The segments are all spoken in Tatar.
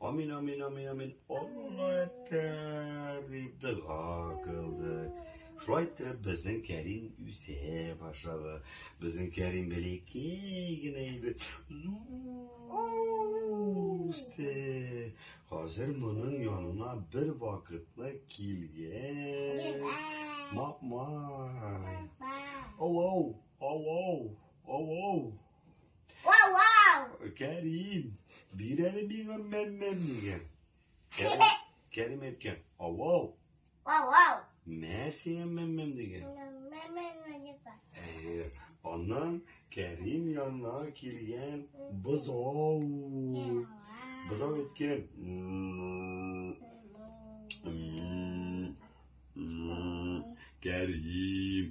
Амин, амин, амин, амин. Алла әттәр, дип дога кылды. Шулай итеп, безнең Кәрим үсә башлады. Безнең Кәрим бәләкәй генә иде. Үсте. Хәзер моның янына бер вакытны килгән. Мапмай. Ау-ау, ау-ау, ау-ау. Кәрим, бир әле миңа мәммәм дигән. Кәрим әйткән, авау. Авау. Мә сиңа мәммәм дигән. Әйе, аннан Кәрим янына килгән бозау. Бозау әйткән. Кәрим.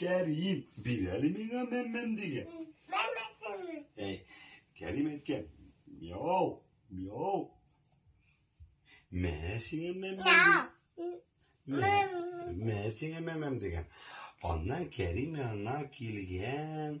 Кәрим, бир әле миңа мәммәм дигән. Әй, Кәрим әйткән, мяу, мяу. Мә сиңа мәмәм. Мә, мә сиңа мәмәм дигән. Аннан Кәрим янына килгән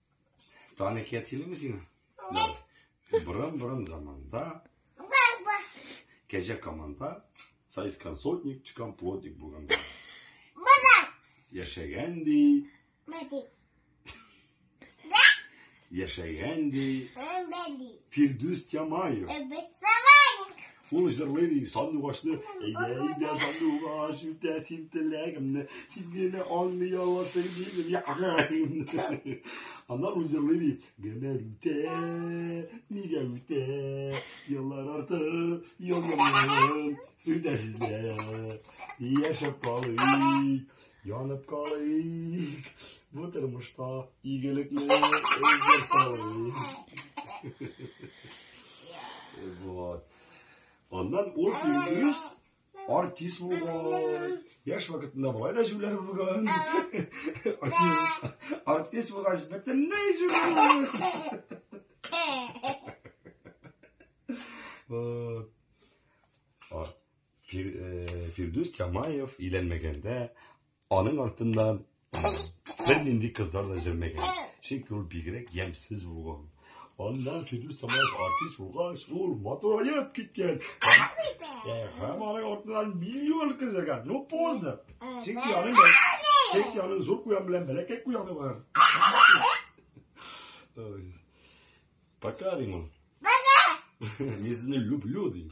Таны киятиле ми сиңа? Буран буран заманда. Кәҗә команда. Сайскан сотник, чыкан плотник булган. Буран. Яшәгән ди. Мәди. Яшәгән ди. Мәди. Фирдүс Ямаев. Э, Ул җырлый ди, сандугачны, әйдә, әйдә, сандугач, үтә син теләгемне, син генә аңлый аласың минем ягымны. Аннан ул җырлый ди, гомер үтә, нигә үтә, еллар арты, елларым, сүтәсезләр, яшәп калыйк. Янып калыйк бу тормышта игелекле эзләр салыйк. Вот. Аннан ул Фирдүс артист булган. Яшь вакытында болай да җүләр булган. Артист булгач бөтенләй җүләр. Вот. Фир, э, Фирдүс Чамаев өйләнмәгәндә аның артыннан бер нинди кызлар да җөрмәгән. Чөнки ул бигрәк ямьсез булган. Аннан Фирдүс Чамаев артист булгач, ул матураеп киткән. Ә һәм аның артыннан миллион кыз җөргән. Ну поздно. Чөнки аның чөнки аның зур куян белән бәләкәй куяны бар. Пока, Римон. Пока. Мин люблю, Римон.